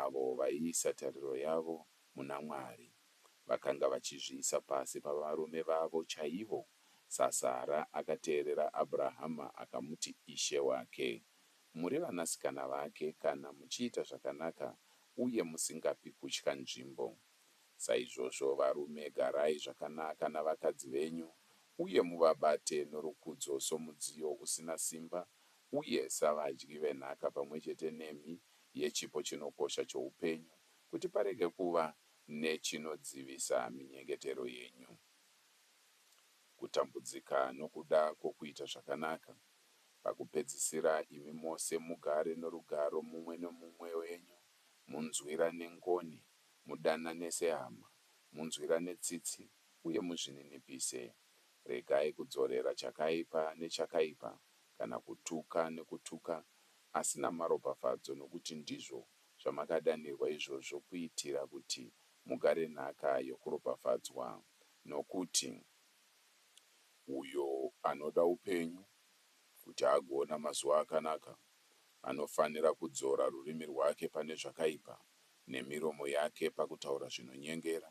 Avo vaiisa tariro yavo muna Mwari vakanga vachizviisa pasi pavarume vavo chaivo, saSara akateerera Abrahama akamuti ishe wake. Muri vanasikana vake kana muchiita zvakanaka uye musingapi kutya nzvimbo. Saizvozvo varume garai zvakanaka navakadzi venyu uye muvabate norukudzo somudziyo usina simba uye savadyi venhaka pamwe chete nemi yechipo chinokosha choupenyu, kuti parege kuva nechinodzivisa minyengetero yenyu. Kutambudzika nokuda kwokuita zvakanaka. Pakupedzisira, imi mose mugare norugaro mumwe nomumwe wenyu, munzwirane ngoni, mudanane sehama, munzwirane tsitsi, uye muzvininipise. Regai kudzorera chakaipa nechakaipa, kana kutuka nekutuka, asi namaropafadzo, nokuti ndizvo zvamakadanirwa izvozvo kuitira kuti mugare nhaka yokuropafadzwa. Nokuti, Uyo anoda upenyu, kuti agoona mazuva akanaka, anofanira kudzora rurimi rwake pane zvakaipa, nemiromo yake pakutaura zvinonyengera.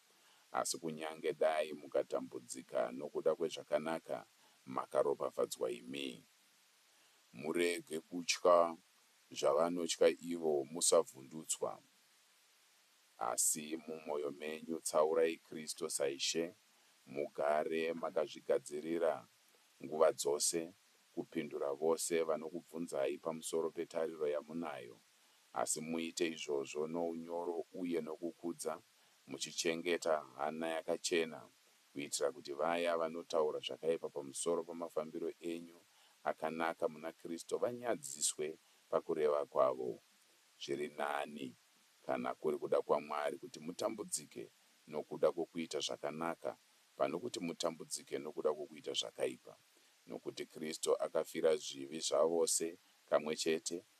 Asi kunyange dai mukatambudzika nokuda kwezvakanaka, makaropafadzwa imi. Murege kutya zvavanotya ivo, musavhundutswa. Asi mumwoyo menyu tsaurai Kristu saIshe, mugare makazvigadzirira nguva dzose kupindura vose vanokubvunzai pamusoro petariro yamunayo. Asi muite izvozvo nounyoro uye nokukudza, muchichengeta hana yakachena, kuitira kuti vaya vanotaura zvakaipa pamusoro pamafambiro enyu akanaka muna Kristu vanyadziswe pakureva kwavo. Zviri nani, kana kuri kuda kwaMwari, kuti mutambudzike nokuda kwokuita zvakanaka pano kuti mutambudzike nokuda kwokuita zvakaipa. Nokuti Kristu akafira zvivi zvavose kamwe chete,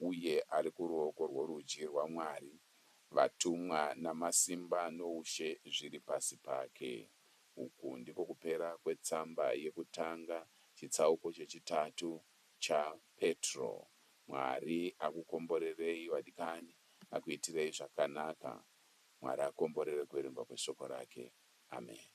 uye ari kuruoko rworudyi rwaMwari, vatumwa namasimba noushe zviri pasi pake. Uku ndiko kupera kwetsamba yekutanga, chitsauko chechitatu, cha Petro. Mwari akukomborerei, vadikani, akuitirei zvakanaka. Mwari akomborere kuverengwa kweShoko raKe. Ameni.